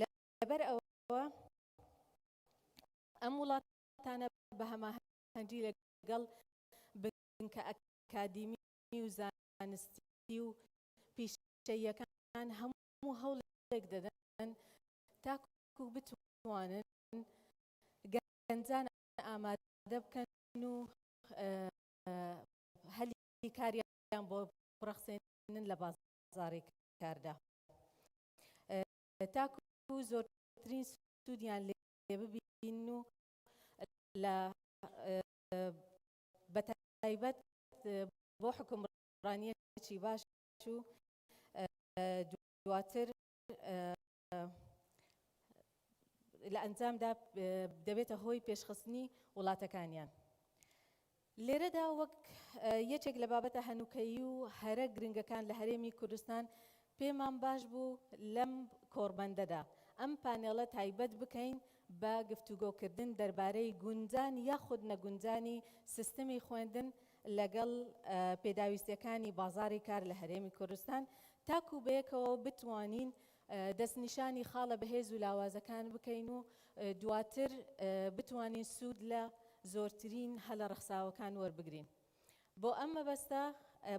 لەبەر ئەوە ئەم وڵاتانە بە هەماهەنگی لەگەڵ بنکە ئەکادیمی و زانستی و پیشەیەکان هەموو هەموو هەوڵێک دەدەن تاکو بتوانن گەنجان ئامادە بکەن و هەلی کاریان بۆ بڕەخسێنن لە بازاری کاردا تاکو زۆرترین سوودیان لێ ببین و لە بەتایبەت بۆ حکومڕانیەکی باش و دواتر لە ئەنجامدا دەبێتە هۆی پێشخستنی وڵاتەکانیان. لێرەدا وەک یەکێک لە بابەتە هەنووکەیی و هەرە گرنگەکان لە هەرێمی کوردستان پێمان باش بوو لەم کۆڕبەندەدا ئەم پانێڵە تایبەت بکەین بە گفتوگۆکردن دەربارەی گونجان یاخود نەگونجانی سیستمی خوێندن لەگەڵ پێداویستیەکانی بازاڕی کار لە هەرێمی کوردستان، تاکو بەیەکەوە بتوانین دەستنیشانی خاڵە بەهێز و لاوازەکان بکەین و دواتر بتوانین سوود لە زۆرترین هەلە ڕەخساوەکان وەربگرین. بۆ ئەم مەبەستە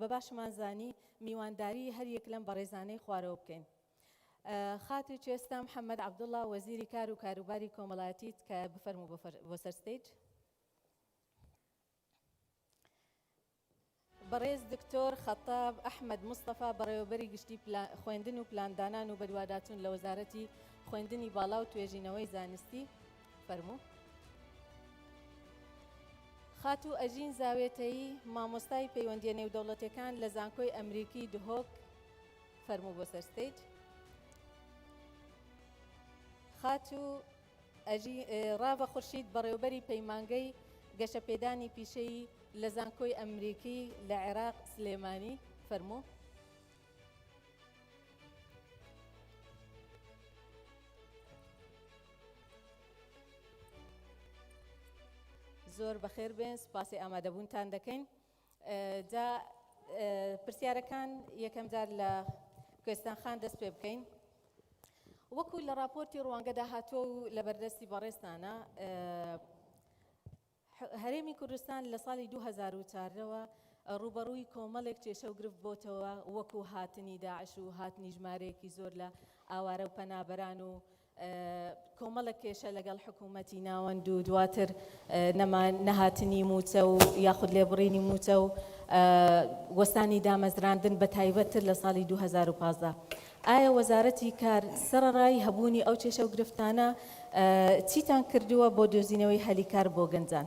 بە باشمان زانی میوانداری هەریەک لەم بەڕێزانەی خوارەوە بکەین. خاتو چێستا محمد عبدالله وەزیری کار و کاروباری کۆمەڵایەتیت کە بفەرمو بۆ سەر ستیج. بەڕێز دکتۆر خەتاب ئەحمەد مستەفا بەڕێوەبەری گشتی خوێندن و پلاندانان و بەدواداچوون لە وەزارەتی خوێندنی باڵا و توێژینەوەی زانستی فەرموو. خاتوو ئەژین زاوێتەیی مامۆستای پەیوەندیە نێودەوڵەتەکان لە زانکۆی ئەمریکی دهۆک فەرموو بۆ سەرستەیت خاتوو ئەژی ڕاڤە خورشید، بەڕێوەبەری پەیمانگەی گەشەپێدانی پیشەیی لە زانکۆی ئەمریکی لە عێراق سلێمانی، فەرموو. زۆر بەخێربێن، سوپاسی ئامادەبوونتان دەکەین. جا پرسیارەکان یەکەم جار لە کوێستان خان دەست پێ بکەین. وەکو لە راپۆرتی ڕوانگەدا هاتووە و لە بەردەستی بەڕێزتانە هەرێمی کوردستان لە ساڵی 2004ەوە ڕوبەڕووی کۆمەڵێک کێشە و گرفت بۆتەوە وەکو هاتنی داعش و هاتنی ژمارەیەکی زۆر لە ئاوارە و پەنابەران و کۆمەڵێک کێشە لەگەڵ حکوومەتی ناوەند و دواتر نەهاتنی مووچە و یاخود لێبڕینی مووچە و وەستانی دامەزراندن بە تایبەتتر لە ساڵی 2015 ئایا وەزارەتی کار سەرڕای هەبوونی ئەو کێشە و گرفتانە چیتان کردووە بۆ دۆزینەوەی هەلی کار بۆ گەنجان؟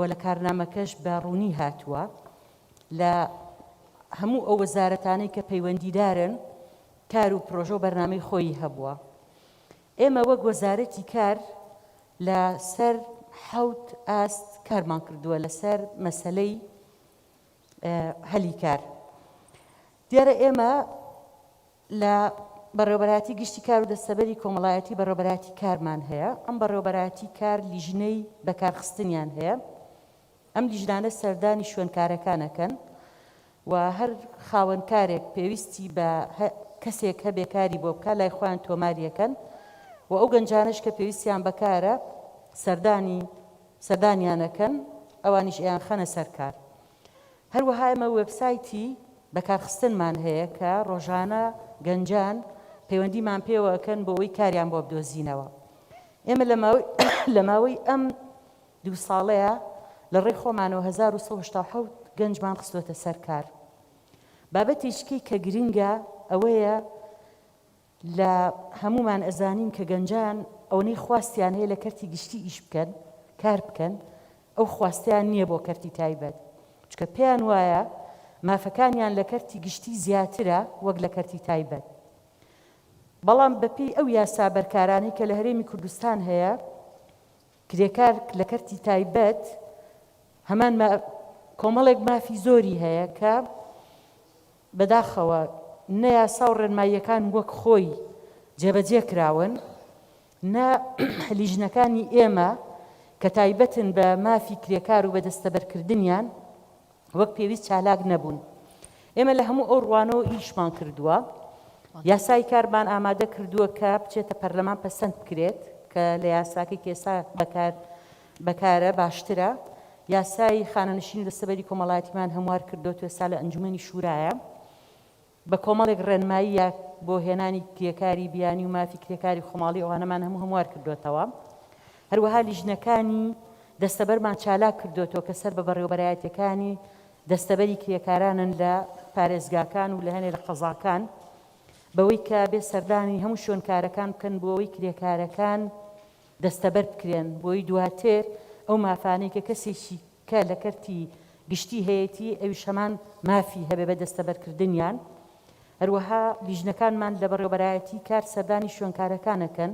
و لە کارنامەکەش بە ڕوونی هاتووە لە هەموو ئەو وەزارەتانەی کە پەیوەندیدارن کار و پرۆژە و بەرنامەی خۆیی هەبووە. ئێمە وەک وەزارەتی کار لە سەر حەوت ئاست کارمان کردووە لە سەر مەسەلەی هەلی کار. دیارە ئێمە لە بەڕێوەبەرایەتی گشتی کار و دەستەبەری کۆمەڵایەتی بەڕێوەبەرایەتی کارمان هەیە، ئەم بەڕێوەبەرایەتی کار لیژنەی بەکارخستنیان هەیە، ئەم لیژنانە سەردانی شوێنکارەکان ئەکەن و هەر خاوەن کارێک پێویستی بە کەسێک هەبێ کاری بۆ بکا لای خۆیان تۆماری ئەکەن و ئەو گەنجانەش کە پێویستیان بە کارە سەردانی سەردانیان ئەکەن ئەوانیش ئەیانخەنە سەر کار. هەروەها ئێمە وێبسایتی بەکارخستنمان هەیە کە ڕۆژانە گەنجان پەیوەندیمان پێوە ئەکەن بۆ ئەوەی کاریان بۆ بدۆزینەوە. ئێمە لە ماوەی لە ماوەی ئەم دوو ساڵەیە لە ڕێی خۆمانەوە هەزار و سەد و هەشتا و حەوت گەنجمان خستووەتە سەر کار. بابەتێکی کە گرنگە ئەوەیە، لە هەموومان ئەزانین کە گەنجان ئەوەنەی خواستیان هەیە لە کەرتی گشتی ئیش بکەن کار بکەن ئەو خواستەیان نییە بۆ کەرتی تایبەت چکە پێیان وایە مافەکانیان لە کەرتی گشتی زیاترە وەک لە کەرتی تایبەت بەڵام بەپی ئەو یاسا بەرکارانەی کە لە هەرێمی کوردستان هەیە کرێکار لە کەرتی تایبەت هەمان کۆمەڵێک مافی زۆری هەیە کە بەداخەوە نە یاسا و ڕێنماییەکان وەک خۆی جێبەجێ کراون، نە لیژنەکانی ئێمە کە تایبەتن بە مافی کرێکار و بە دەستەبەرکردنیان وەک پێویست چالاک نەبوون. ئێمە لە هەموو ئەو ڕوانەوە ئیشمان کردووە. یاسای کارمان ئامادە کردووە کە بچێتە پەرلەمان پەسەند بکرێت کە لە یاساکەی کە ئێستا بەکار بەکارە باشترە یاسای خانەنشینی دەستەبەری کۆمەڵایەتیمان هەموار کردۆت و ئێستا لە ئەنجومەنی شورایە بە کۆمەڵێک ڕێنمایی یاک بۆ هێنانی کرێکاری بیانی و مافی کرێکاری خۆماڵی ئەوانەمان هەموو هەموار کردۆتەوە هەروەها لیژنەکانی دەستەبەرمان چالاک کردۆتەوە کە سەر بە بەڕێوەبەرایەتیەکانی دەستەبەری کرێکارانن لە پارێزگاکان و لە هەنێ لە قەزاکان بەوەی کە بێ سەردانی هەموو شوێنکارەکان بکەن بۆ ئەوەی کرێکارەکان دەستەبەر بکرێن، بۆی دواتر ئەو مافانەی کە کەسێکی کە لە کەرتی گشتی هەیەتی ئەویش هەمان مافی هەبێ بە دەستەبەرکردنیان. هەروەها لیژنەکانمان لە بەڕێوەبەرایەتی کار سەردانی شوێنکارەکان ئەکەن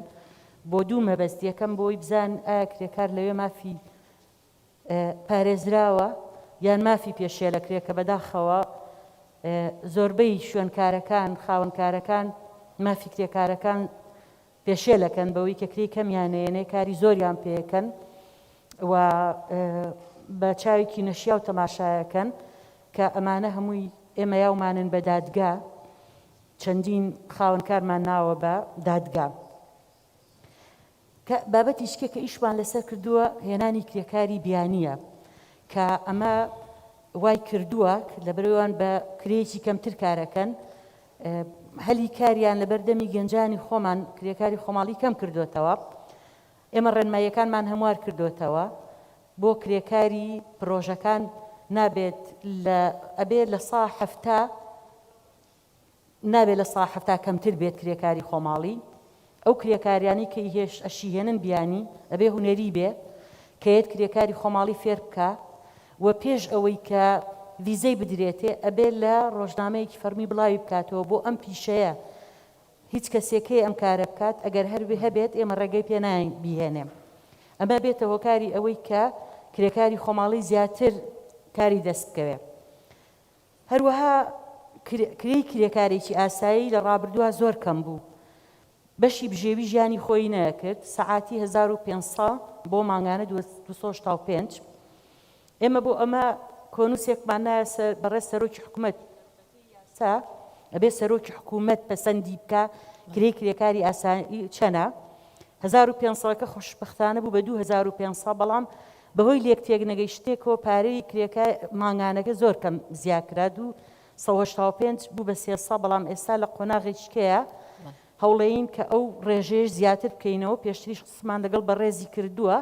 بۆ دوو مەبەست، یەکەم بۆی بزان ئایا کرێکار لەوێ مافی پارێزراوە یان مافی پێشێلەکرێ کە بەداخەوە زۆربەی شوێنکارەکان خاوەنکارەکان مافی کرێکارەکان پێشێلەکەن بەوەی کە کرێی کەمیان نەیەنێ کاری زۆریان پێکەن و بە چاوێکی نەشیاو تەماشایەکەن کە ئەمانە هەمووی ئێمە یاومانن بە دادگا چەندین خاوەنکارمان ناوە بە دادگا کە بابەتی شکێ کە ئیشمان لەسەر کردووە هێنانی کرێکاری بیانیە کە ئەمە وای کردووە لە برەوان بە کرێکی کەمتر کارەکەن هەلی کاریان لەبەر دەمی گەنجانی خۆمان کرێکاری خۆماڵی کەم کردۆتەوە. ئێمە ڕێنماییەکانمان هەموار کردۆتەوە بۆ کرێکاری پرۆژەکان نابێت لە ئەبێ لە سا حەفتا نابێ لە سا حەفتا کەمتر بێت کرێکاری خۆماڵی. ئەو کرێکاریانەی کە ئیهش ئەشیهێنن بیانی ئەبێ هونەری بێ کە یەت کرێکاری خۆماڵی فێر بکا و پێش ئەوەی کە ڤیزەی بدرێتێ ئەبێ لە ڕۆژنامەیەکی فەڕمی بڵاوی بکاتەوە بۆ ئەم پیشەیە هیچ کەسێ کەی ئەم کارە بکات ئەگەر هەر هەبێت ئێمە ڕێگەی پێ ناین بیهێنێ ئەمە بێتە هۆکاری ئەوەی کە کرێکاری خۆماڵی زیاتر کاری دەست بکەوێ. هەروەها کرێی کرێکارێکی ئاسایی لە ڕابردووە زۆر کەم بوو، بەشی بژێوی ژیانی خۆی نەکرد، سەعاتی هەزار و پێنج سە بۆ مانگانە دوو سە شتا و پێنج. ئێمە بۆ ئەمە کۆنووسێکمان نایە سەر بەڕێز سەرۆکی حکومەت، بەپێی یاسا ئەبێ سەرۆکی حکومەت پەسەندی بکا کرێی کرێکاری ئاسایی چەنە، هەزار و پێنج سەکە خوشبەختانە بوو بە دوو هەزار و پێنج سە بەڵام بەهۆی لێکتێکنەگەیشتێک و پارەی کرێکار مانگانەکە زۆر کەم زیاکرا، دوو سەد و هەشتا و پێنج بوو بە سێ سەد، بەڵام ئێستا لە قۆناغێکیکەیە هەوڵێین کە ئەو رێژەیەش زیاتر بکەینەوە، پێشتریش قسمان لەگەڵ بەڕێزی کردووە،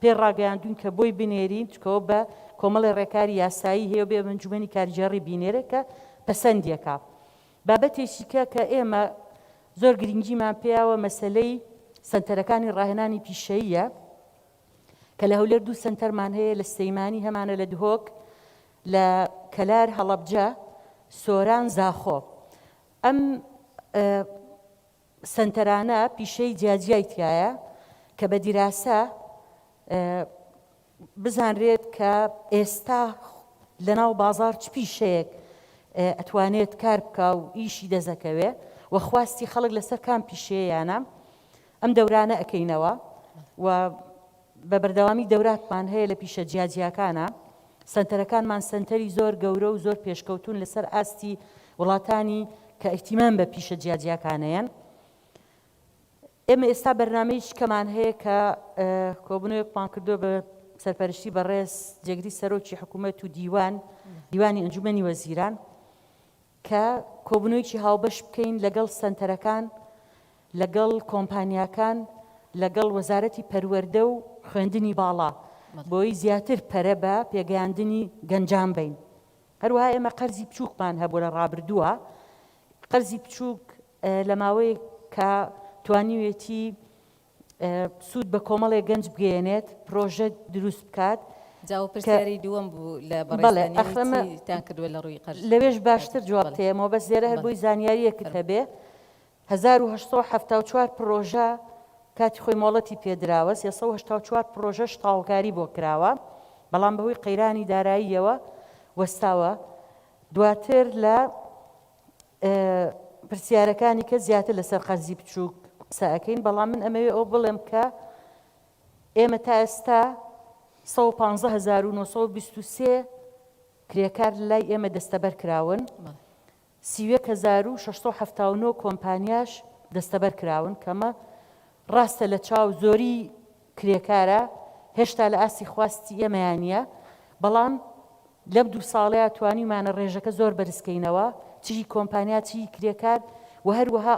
پێی راگەیاندووین کە بۆی بنێرین، چکەوە بە کۆمەڵێ رێکاری یاسایی هەیە و بێ ئەنجومەنی کارگێڕی بینێرێ کە پەسەندی کا. بابەتێکیکە کە ئێمە زۆر گرنگیمان پێیاوە مەسەلەی سەنتەرەکانی راهێنانی پیشەییە، کە لە هەولێر دوو سەنتەرمان هەیە لە سلەیمانی هەمانە لە دهۆک لە کەلار هەڵەبجە سۆران زاخۆ ئەم سەنتەرانە پیشەی جیاجیای تایە کە بە دیراسە بزانرێت کە ئێستا لەناو بازار چ پیشەیەک ئەتوانێت کار بکە و ئیشی دەزەکەوێ و خواستی خەڵک لەسەر کام پیشەیەیانە ئەم دەورانە ئەکەینەوە و بە بەردەوامی دەوراتمان هەیە لە پیشە جیا جیاکانا، سەنتەرەکانمان سەنتەری زۆر گەورە و زۆر پێشکەوتوون لەسەر ئاستی وڵاتانی کە ئیهتیمام بە پیشە جیا جیاکانەیەن. ئێمە ئێستا بەرنامەیەکی کەمان هەیە کە کۆبنەوەیەکمان کردووە بە سەرپەرشتی بەڕێز جێگری سەرۆکی حکوومەت و دیوان دیوانی ئەنجومەنی وەزیران، کە کۆبوونەوەیەکی هاوبەش بکەین لەگەڵ سەنتەرەکان، لەگەڵ کۆمپانیاکان، لەگەڵ وەزارەتی پەروەردە و خوێندنی باڵا، بۆی زیاتر پەرە بە پێگەیاندنی گەنجان بەین. هەروەها ئێمە قەرزی بچووکمان هەبوو لە ڕابردووە، قەرزی بچووک لە ماوەیەکە توانیوێتی سوود بە کۆمەڵێک گەنج بگەیەنێت پرۆژە دروست بکات. جاوە پرسیاری دووەم بوو لە بەڕێزتان کردووە لە ڕووی قەرز. لەوێش باشتر جواب تێمەوە بەس لێرە هەر بۆی زانیاریەکت هەبێ هەزار و هەشت سەد و حەفتا و چوار پرۆژە کاتی خۆی مۆڵەتی پێدراوە سێ سەد و هەشتا و چوار پرۆژەش تاوڵکاری بۆ کراوە بەڵام بەهۆی قەیرانی داراییەوە وەستاوە دواتر لە پرسیارەکانی کە زیاتر لەسەر قەرزی بچووک قسە ئەکەین، بەڵام من ئەمەوێ ئەوە بڵێم کە ئێمە تا ئێستا سەد و پازدە هەزار و نۆ سەد و بیست و سێ کرێکار لای ئێمە دەستەبەر کراون، سی و یەک هەزار و شەش سەد و حەفتا و نۆ کۆمپانیاش دەستەبەر کراون، کە ئەمە ڕاستە لە چاو زۆریی کرێکارە هێشتا لە ئاستی خواستی ئێمەیان نییە، بەڵام لەم دوو ساڵەیا توانیومانە ڕێژەکە زۆر بەرزکەینەوە، چ هی کۆمپانیا چ هی کرێکار و هەروەها.